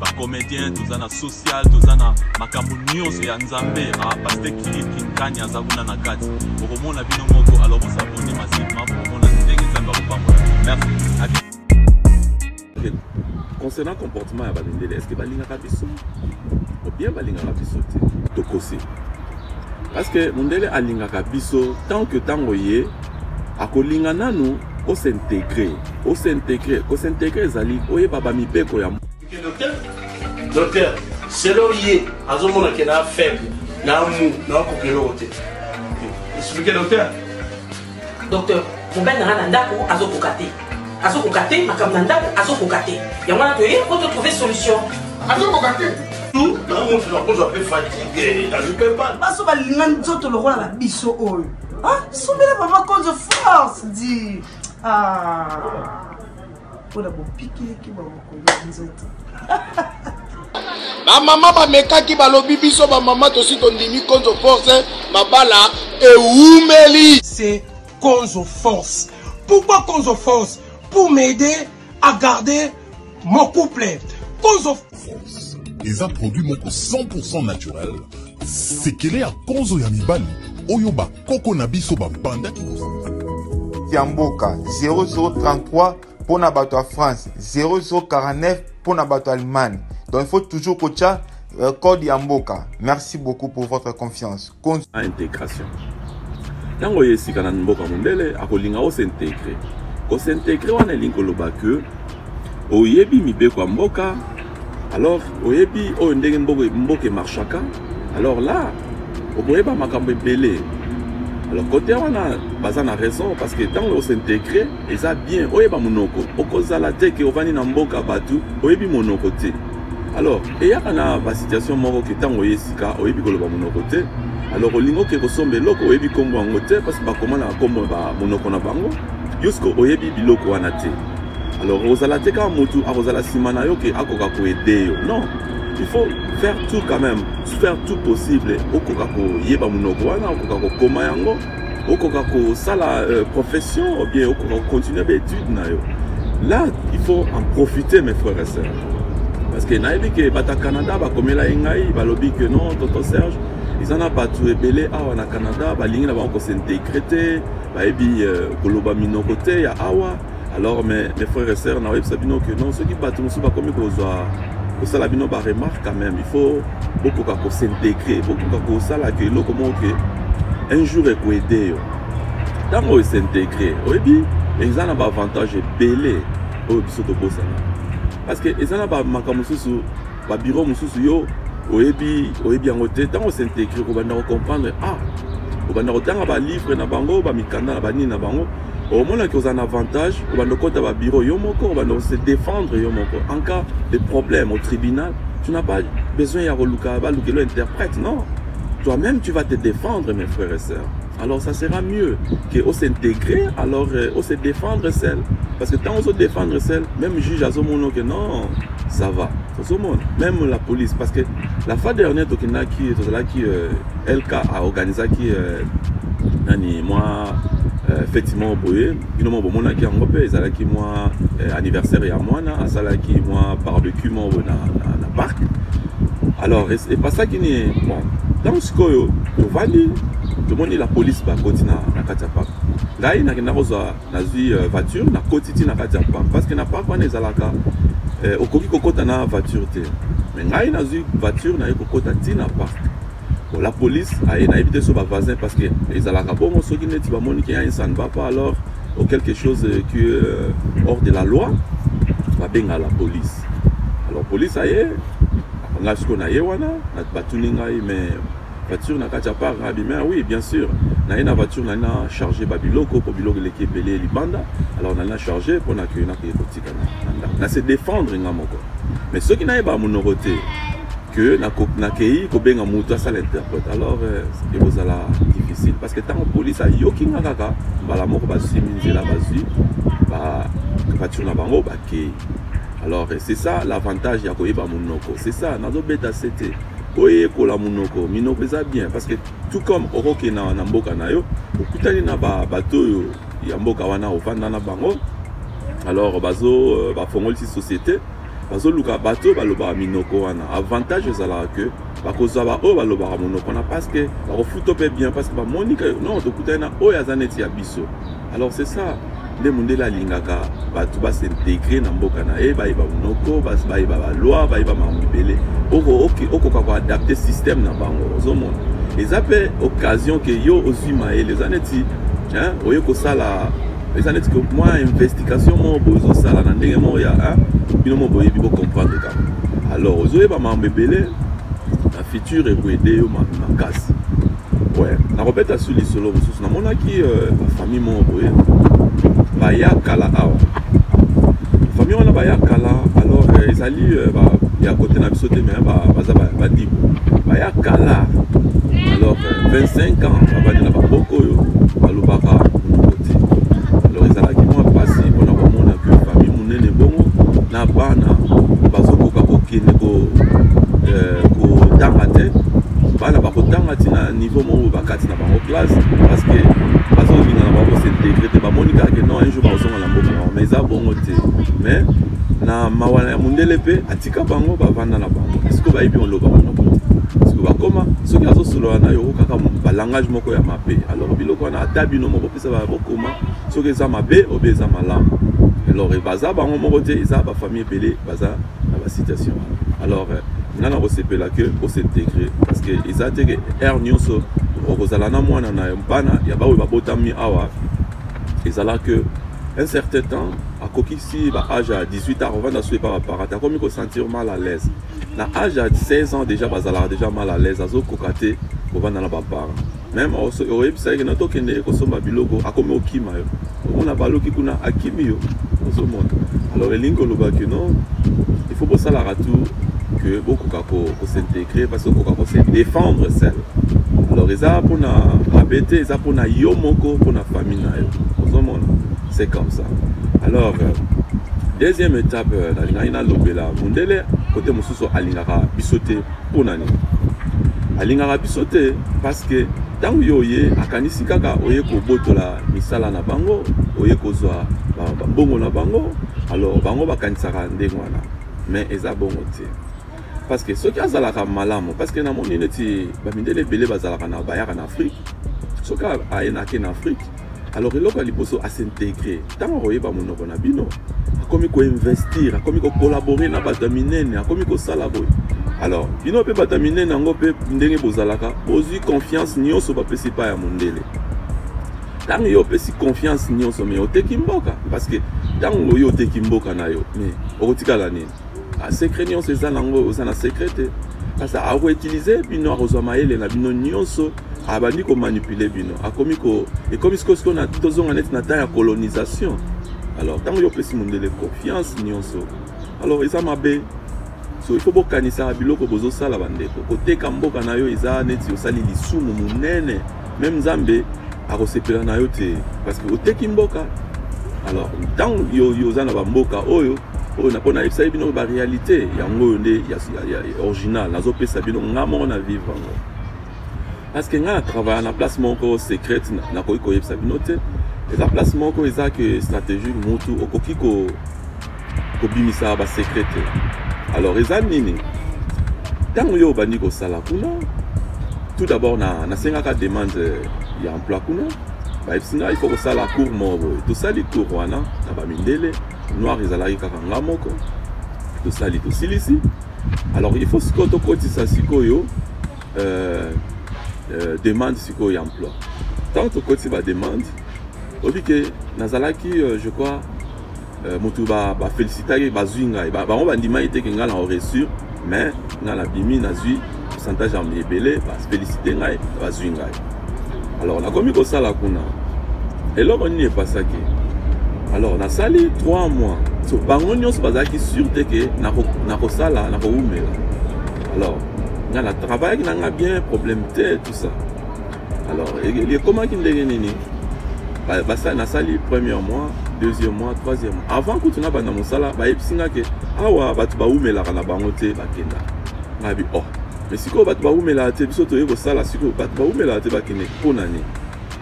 ba comedien toza na social toza na makambo nyonso ya nzambe ah, paste kili kinkani aza kuna na kati okomona bino moko alors bosabone masivema bokomona ndenge nzambe akopambola merci concernant comportement ya bamindele est ce que balingaka biso obien balingaka biso te tokosi parce que mondele alingaka biso tant que ntango ye akolinga nanu o s'integrer o s'integrer ko s'integrer ezali oyeba ba mibeko ya docteur selo ye azomona ke na faible na mu na okoki eloko te explique docteur docteur mobali nanga na ndako azokoka te azokoka te makambo na ndako azokoka te yango wana toye po totrouve solution azokoka te baso balinga nzoto lokola na biso oyo Ah, sombela mama konzo force di ah. mpona bopikiliki bwa mokolo ya nzoto bamama bamekaki balobi biso bamama tosi tondimi konzo force mabala ewumeli c'est konzo force pourquoi konzo force pour m'aider a garder mon couple konzo force eza produit moko 100% naturel sekele ya konzo ya mibali oyo bakoko na biso babandaki ya mboka 0033 mpo na bato ya france 0049 mpo na bato ya allemagne donc il faut toujours kotya euh, code ya mboka merci beaucoup pour votre confiance na integration ntango oye esika na mboka mondele akolinga osintegre kosintegre wana elingi koloba ke oyebi mibeko ya mboka alors oyebi oyo ndenge mboka emarchaka alors là okoyeba makambo ebele alors kote wana baza na raison parce que ntango osintegre eza bien oyeba monoko okozala te ke ovandi na mboka bato oyebi monoko te alors eyaka na basituation moko ke ntango oye esika oyebi koloba monoko te alors olingi oke kosomba eloko oyebi nkombo yango te parce bakoma na nkombo monoko na bango yosko oyebi biloko wana te alors ozala te kaka motu akozala nsima na yo ke akoka koede yo non il faut faire tout quand même faire tout possible okoka koyeba monoko wana okoka kokoma yango okoka kosala euh, profession obien okoka kocontinue baétude na yo là il faut en profiter mes frères et sœurs parce que nayebi ke bato ya canada bakomela ye ngai balobi ke non tonton serge eza na bato ebele awa na canada balingi na bango kosintegre te bayebi euh, koloba minoko te ya awa alors mais mes frères et sœurs naoyebisa bino ke non soki bato mosusu bakomi kozwa kosala bino baremarque quand même il faut bokoka kosintegre bokoka kosala ke eloko moko ke un jour ekoede yo ntango oyo esintegre oyebi eza na baavantage ebele oyo biso tobosana parce que eza na bamakambo mosusu ba bureau mosusu yo oyebi oyebi yango te ntango osintegre kobanda kocomprendre ah obanda kotanga balivre na bango bamikanda na banini na bango omonaki oza na avantage obanda okota babiro yo moko obanda ose défendre yo moko en cas de problème au tribunal tu n'as pas besoin ya koluka balukelo interprète non toi-même tu vas te défendre mes frères et sœurs alors ça sera mieux que o s'intégrer alors euh, o se défendre seul parce que tant ozo défendre seul même juge azomona que non ça va ozomona même la police parce que la fois dernière tokendaki tozalaki euh, lk aorganisaki euh, nani mwa euh, feti moko boye bino moko bomonaki yango mpe ezalaki mwa euh, anniversaire ya mwana asalaki mwa barbecue moko boye na, na, na parc alors epasaki ni bon ntango sikoyo tovandi tomoni la police bakoti na, na kati ya parc ngai nakenda kozwa nazwi uh, voiture nakoti ti na kati ya parc parce que na parc wana ezalaka eh, okoki kokota na voiture te me ngai nazwi voiture naye kokota ti na parc bon, la police aye nayebi te so bavoisin parce que ezalaka bongo soki neti bamoni ke un ça ne va pas alors ou quelque chose euh, qui euh, hors de la loi babenga la police alors police aye ngai sikoyo naye wana batuni ngai mais Voiture na kati ya parc na bima oui bien sûr na ye na voiture nali na charge babiloko mpo biloko eleki ebele libanda alors nali na charge mpo na kei nakei kotika na ndako na se défendre nga moko mais soki nayeba monoko te que nakei kobenga moto asala interprète alors euh, ekozala difficile parce que ntango polise ayoki nga kaka mbala moko basimi nzela bazwi voiture na bango bakei alors euh, c'est ça l'avantage ya koyeba monoko c'est ça nazobeta sete koyekola monoko minoko eza bien parce que tout comme okokende na, na mboka na yo okutani na bato oyo ya mboka wana ofanda na bango alors bazo euh, bafongolisi société bazoluka bato oyo balobaka minoko wana avantage ezalaka ke bakozwa baoyo balobaka monoko wana parce que bakofuto mpe bien parce que bamoni ke non tokutani na oyo aza neti ya biso alors c'est ça nde mondele alingaka bato basintegre na mboka na ye bayeba monoko bayeba baloi bayeba makambo ebele okoka koadapte système na bango ozomona eza mpe occasion ke yo ozwi mayele eza neti oye kosala eza neti ke mwa investigation moko boye ozosala na ndenge moko ya bino moko boyebi bocomprendre kaka alors ozoyeba makambo ebele na future ekoede yo makasi Ouais, nakobeta su lisolo mosusu namonaki euh, famille moko boye baya kala awa famille wana baya kala alors euh, ezali euh, ba, ya kote na biso te me baza badibo baya kala alors 25 ans babandi na baboko oyo balobaka na bana bazokoka kokende eh, kotanga te bana bakotanga ti na niveau moko bakati na bango classe parce que bazolinga na bango s'integre te bamoni kaka ke non un jour bakozonga na mboka bango mais eza bongo te mais na mawa ya mondele mpe atika bango bavanda na bango siko bayebi oloba monoko te siko bakoma soki azosolola na yo kaka balangage moko ya mabe alors biloko wana ata bino moko mpesa bokoma soki eza mabe obe eza malamu alors baza bango moko te eza bafamille ebele baza na basituation alors euh, nga na kosepela ke osintegre parce que eza te ke aire nyonso okozala na mwana na bana ya baoyo babotami awa ezala ke un certain temps akokisi ba age ya 18 ans ovanda so epa baparent te akomi kosentir mal à l'aise na age ya 16 ans déjà bazalaka déjà mal à l'aise azokoka te kovanda na baparent meme oyebisa yeke na tokende ye kosomba biloko akomi okima yo omona baluki kuna akimi yo ozomona alors elingi koloba ke no il faut bosalaka tout que bokoka kosintegre parce okoka kose défendre sel alors eza mpona mabe te eza mpona yo moko mpona famille na yo ozomona c'est comme ça alors euh, deuxième étape euh, nalingaki nalobela mondele kote mosusu alingaka biso te mpo na nini alingaka biso te parce que ntango yo oye akanisi kaka oye kobotola misala na bango oye kozwa mbongo na bango alors bango bakanisaka ndenge wana mais eza bongo te parce que soki azalaka malamu parce que namoni neti bamindele ebele bazalaka na bayaka na afrique soki ayenake na afrique alors eloko ya liboso asintegre ntango akoyeba monoko na bino akomi koinvestir akomi kokolabore na bato ya minene akomi kosala boye alors bino mpe bato ya minene yango mpe ndenge bozalaka bozwi confiance nyonso bapesi epai ya mondele ntango yo opesi confiance nyonso me oteki mboka parce que ntango oyo oteki mboka na yo me okotikala nini Ah, secret nyonso eza nango oza na secret te kasi akoutilize bino akozwa mayele na bino nyonso abandi komanipule bino akomi ko ekomi sikoyo sikoyo tozonga neti na temps ya colonisation alors ntango yo opesi mondele confiance nyonso alors eza mabe so il faut bokanisaka biloko bozosala bandeko koteka mboka na yo eza neti osali lisumu monene meme nzambe akosepela na yo te parce que oteki mboka alors ntango yo oza na bamboka oyo oyo na mpo nayebisa ye bino baréalité yango oyo nde original nazopesa bino nga moko na vivre yango parce que nga na travailla na place moko secrète nakoki koyebisa bino te eza place moko eza ke stratégie mutu okoki ko kobimisa ba secret te alors eza nini ntango yo obandi kosala kuna tout d'abord na nasengaka demande ya emploi kuna bayebisi ngai ifo kosala cour moko boye tosali cour wana na bamindele noir ezalaki kaka nga moko tosali tosilisi alors il faut sikoyo tokotisa sikoyo euh, euh, demande sikoyo ya emploi ntango tokotisi bademande obi ke nazalaki euh, je crois euh, motu ba ba felicitaki bazui ngai ba, bango bandimaki te ke ngai na reusir mais ngai nabimi nazui pourcentage ya ebele ba felicite ngai bazui ngai alors nakomi kosala kuna eloko nini epasaki alors nasali 3 mois so bango nyonso bazalaki sur te ke nakosala nakowumela alors ngai na travaillaki na ngai bien problème te tout ça alors ekomaki ndenge nini nasali premier mois deuxième mois troisième mois avant kutu na banda mosala bayebisi nga ke awa bato bawumelaka na bango te bakenda ngabi oh mais sikoyo bato bawumelaka te biso toye kosala sikoyo bato bawumelaka te bakende mpo na nini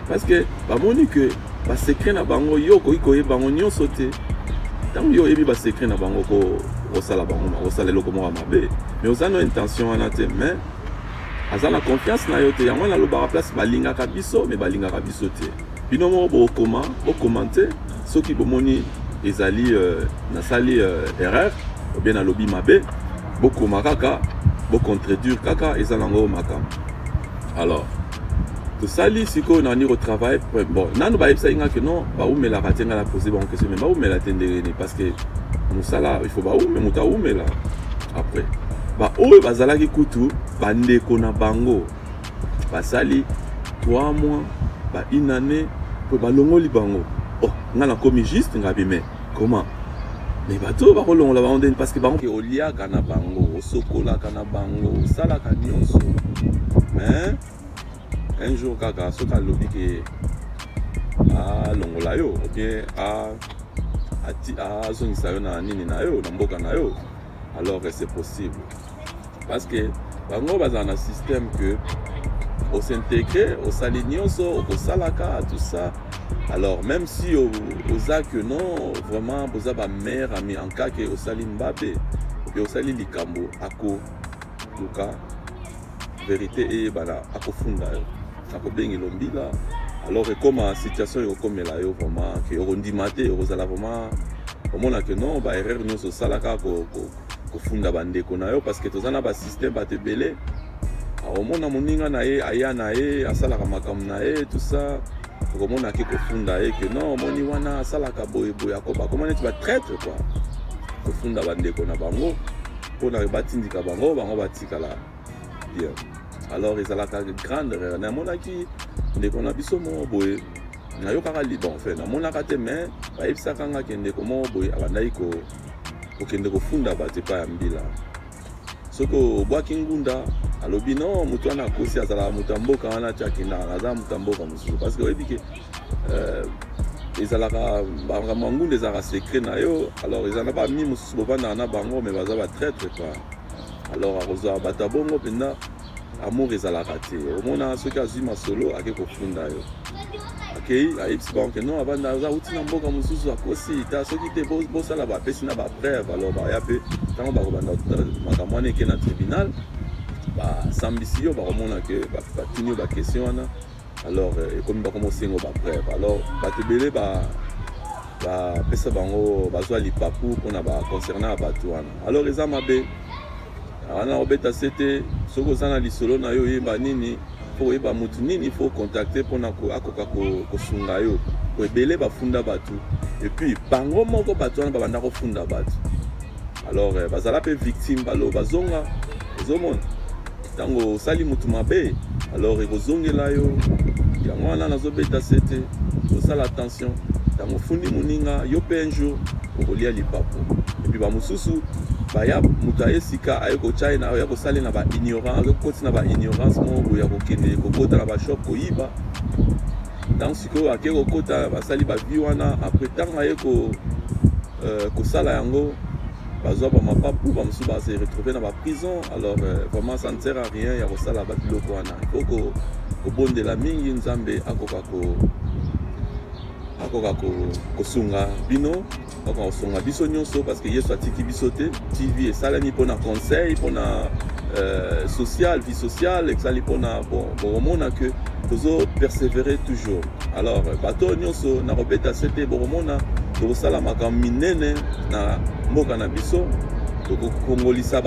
parce que bamoni ke basecret na bango yo okoki koyeba bango nyonso te ntango yo oyebi basecret na bango kosala bango kosala eloko moko ya mabe mais oza no intention wana te mais aza na confiance na yo te yango nalobaka place balingaka biso me balingaka biso te bino moko bokokoma bokomante soki bomoni ezali euh, nasali euh, erreur obie nalobi mabe bokoma kaka bocontredire kaka eza nango makambo alors tosali sikoyo na niko travail bon nanu bayebisaki nga ke non baumelaka te nga na pose bango question mais baumela te ndenge nini parce que mosala il faut baume moto aumela après baoyo bazalaki kutu bandeko na bango basali 3 mois ba une année mpo balongoli bango oh nga nakomi juste ngabi mais comment mais bato oyo bakolongola bango ndeni parce que bango oliaka na bango osokolaka na bango osalaka nyonso mais un jour kaka soki alobi ke alongola ah, yo obien ah, ah, azongisa yo na nini na yo na mboka na yo alors que c'est possible parce que bango bazala na système que osintegre osali nyonso okosalaka tout ça alors même si oza que non vraiment boza bamare ami en cas ke osali mbabe ope osali likambo akoluka verite eyebana akofunda yo akobengi lombila alors ekoma situation ekokomela yo vraiment ke okondima te okozala vraiment omona ke non ba erreur nyonso osalaka kofunda bandeko na yo parce que toza na basystème bato ebele omona moninga na ye aya na ye asalaka makambo na ye tout ça okomona ake kofunda ye ke non omoni wana asalaka boye boye akoba akoma neti batraitre kua kofunda bandeko na bango mpona batindika bango bango bati etikala bien alors ezalaka grande erreur namonaki ndeko na biso moko boye nayokaka liban fe namonaka te mais bayebisaka nga ke ndeko moko boye abandaki kokende kofunda bato epai ya mbila soki obwaki ngunda alobi no moto wana akosi azalaka moto ya mboka wana ti akendaka naza moto ya mboka mosusu parce que oyebi ke euh, ezalaka makambo ya ngunda ezalaka secret na yo alors ezala na bami mosusu bovandaka na bango mais baza batraitre quoi alors akozwa bato ya bongo mpenza amour ezalaka te omona soki azwi masolo ake kofunda yo akei ayebisi bango ke non abanda aza auti na mboka mosusu akosi ta soki te bosala bapesi na bapreuve alors baya mpe ntango bakobanda makambo wana eke na tribunal basambisi yo bakomona ke batuni yo baquestion wana alors euh, ekomi bakoma osengo bapreuve alors bato ebele bapesa bango bazwa lipapu mpona baconcernant ya bato wana alors eza mabe wana obeta se te soki oza na lisolo na yo oyeba nini mpo oyeba motu nini fo contacte mpona akoka kosunga yo po ebele bafunda bato epuis bango moko bato wana babanda kofunda bato alors euh, bazala mpe victime balo bazonga ozomona ntango osali motu mabe alors ekozongela yo yango wana nazobeta sete osala attention ntango ofundi moninga yo mpe un jour okolia lipapu epuis bamosusu baya moto aye sika aye kotya ye aya kosala na baignorance aza kokoti na baignorance moko boye ya kokende kokota na bashop koyiba ntango sikoyo ake kokota basali bavie wana apres ntango aye ko euh, kosala yango bazwa bamapapu bamosusu ba se retrouve na baprison alors euh, vraiment ça ne sert à rien ya kosala babiloko wana ifo kobondela mingi nzambe akoka ko akoka kosunga bino akoka kosunga biso nyonso parce que yesu atiki biso te tv esalami mpona conseil mpona euh, social vie sociale esali mpona bon bokomona que tozo persévérer toujours alors bato oyo nyonso na kobeta sete bokomona tokosala makambo minene na mboka na biso tokokongolisa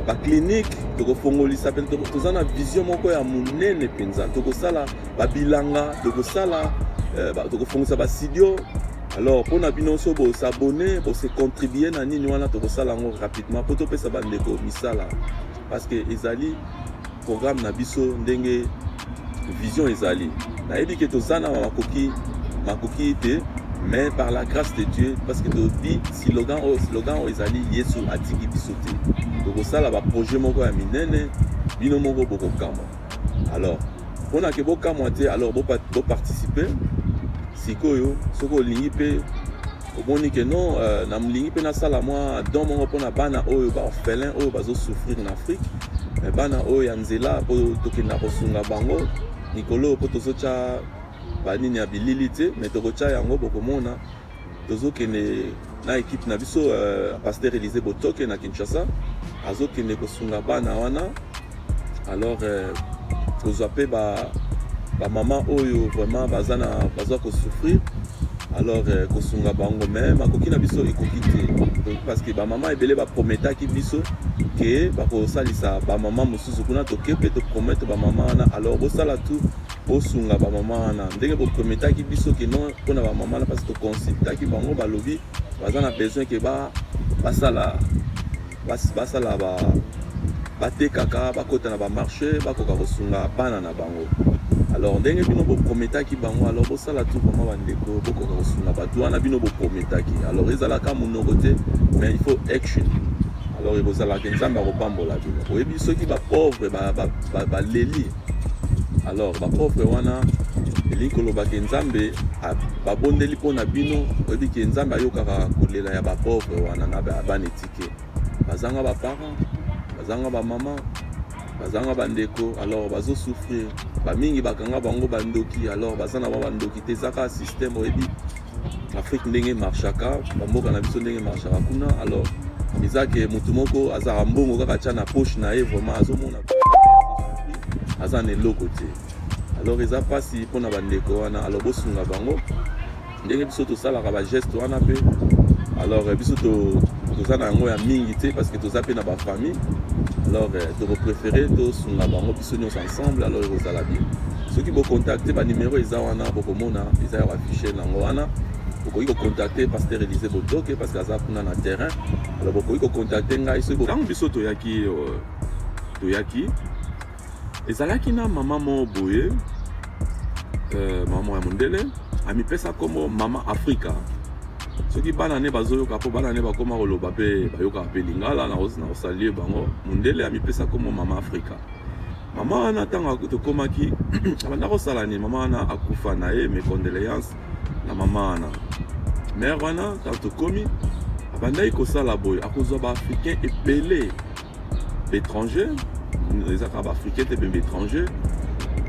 baclinique tokofongolisa mpe toza na vision moko ya monene mpenza tokosala babilanga tokosala eh, tokofongisa basidio alors mpo na bino so bosabone bose contribue na nini wana tokosala yango rapidement mpo topesa bandeko misala parce que ezali programme na biso ndenge vision ezali nayebi ke toza na makoki makoki te mais par la grâce de dieu parce que tobi slogan oyo slogan oyo ezali yesu atiki biso te tokosala baprojet moko ya minene bino moko bokokamwa alors mpona ke bokamwa te alors boparticipe sikoyo soki olingi mpe omoni ke non euh, nalingi mpe nasala mwa don moko mpona bana oyo baorphelin oyo bazosouffrir na afrique mais bana oyo ya nzela mpo tokenda kosunga bango mikolo oyo mpo tozotya banini ya bilili te mais tokotya yango bokomona tozokende na ekipe na biso euh, pasteur elise botoke na kinshasa azokende kosunga bana wana alors euh, tozwa mpe bamama oyo vraiment baza na baza kosouffrir alors euh, kosunga bango mais makoki na biso ekoki te parce que bamama ebele baprometaki biso ke bakosalisa bamama mosusu kuna toke mpe topromete bamama wana alors bosala tout bosunga bamama wana ndenge boprometaki biso ke non mpo na bamama wana parce toconsultaki bango balobi baza na besoin ke basala basala ba batekaka bakota na bamarché bakoka kosunga bana na bango alors ndenge bino boprometaki bango alors bosala tu vraimen bandeko bokoka kosunga bato wana bino boprometaki alors ezalaka monoko te mais il faut action alors ekozalaka nzambe akopambola bino oyebi soki bapauvre baleli ba, ba, ba, alors bapauvre wana elingi koloba ke nzambe babondeli mpo na bino oyebi ke nzambe ayokaka kolela ya bapauvre wana na bana etike bazanga baparent bazanga bamama bazanga bandeko alors bazosouffrir bamingi bakanga bango bandoki alors baza na ba bandoki te ezaka systeme oyebi afrique ndenge marchaka bamboka na biso ndenge marchaka kuna alors eza ke motu moko azalaka mbongo kaka tya na poche na ye vraiment azomona aza na eloko te alors eza mpasi mpo na bandeko wana alors bosunga bango ndenge biso tosalaka bageste wana mpe alors biso toza na yango ya mingi te parce que toza mpe na bafamille alors tokopréféré tosunga bango biso nyonso ensemble alors ekozala bien soki bocontacte banimero eza wana bokomona eza ya bafichier nango wana bokoki kocontacte pasteur elise botoke parce que aza kuna na terrain alors bokoki kocontacte ngai soki ntango biso toyaki euh, toyaki ezalaki na mama moko boye euh, mama ya mondele amipesa nkombo mama afrika soki bana ne bazoyoka mpo bana ne bakoma koloba mpe bayokaka mpe lingala nakosalie bango mondele amipesa nkombo mama afrika mama wana ntango tokomaki abanda kosala nini mama wana akufa na ye mes condoléances na mama wana mare wana ntango tokomi abandaki kosala boye akozwa baafricain ebele baétranger ezaka baafricain te mpe baétranger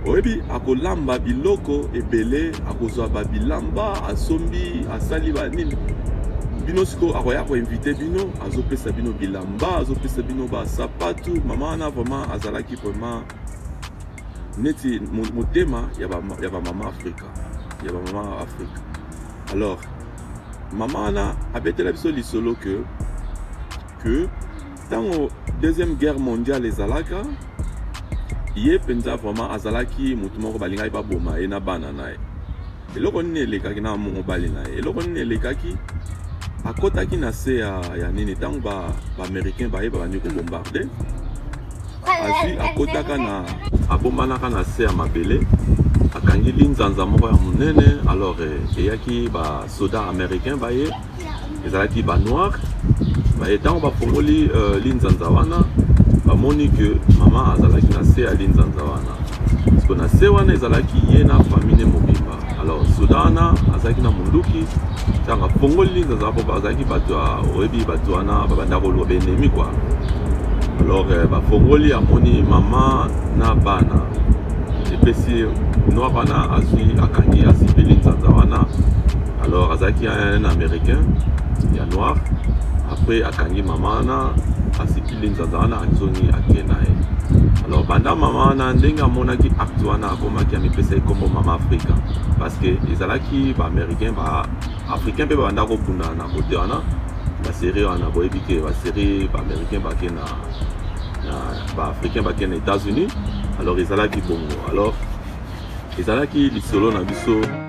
oyebi akolamba biloko ebele akozwa babilamba asombi asali banini bino sikoyo akoya koinvite bino azopesa bino bilamba azopesa bino basapatu mama wana vraiment azalaki vraiment neti motema ya bamama afrika ya bamama afrika alors mama wana abetela biso lisolo que que ntango deuxième guerre mondiale ezalaka ye mpenza vraiment azalaki motu moko balingaki baboma ye na bana na ye eloko nini elekaki na mobali na ye eloko nini elekaki akotaki na se ya, ya nini ntango baaméricain ba baye babandi kobombarde azwi akotaka na abombanaka na se ya mabele akangi linzanza moko ya monene alors eh, eyaki basoda américain baye ezalaki ba noir baye ntango bafongoli uh, linzanza wana bamoni ke mama azalaki na se ya linzanza wana parceke na se wana ezalaki ye na famille mobimba alors soda wana azalaki na monduki ntango afongoli linzanza po bazalaki bato ya oyebi bato wana babanda koluka baennemi kua alors eh, bafongoli amoni mama na bana epesi noir wana azwi akangi asipi linzanza wana alors azalaki un américain ya noir après akangi mama wana asikili nzanza wana azongi ake na ye alors banda mama wana ndenge amonaki acte wana akomaki amipesa ekombo mama afrika parce que ezalaki baaméricain baafricain mpe babanda kobunda na kote wana baserie wana boyebi ke baserie baaméricain bake na baafricain bake na états-unis alors ezalaki bongo alors ezalaki lisolo na biso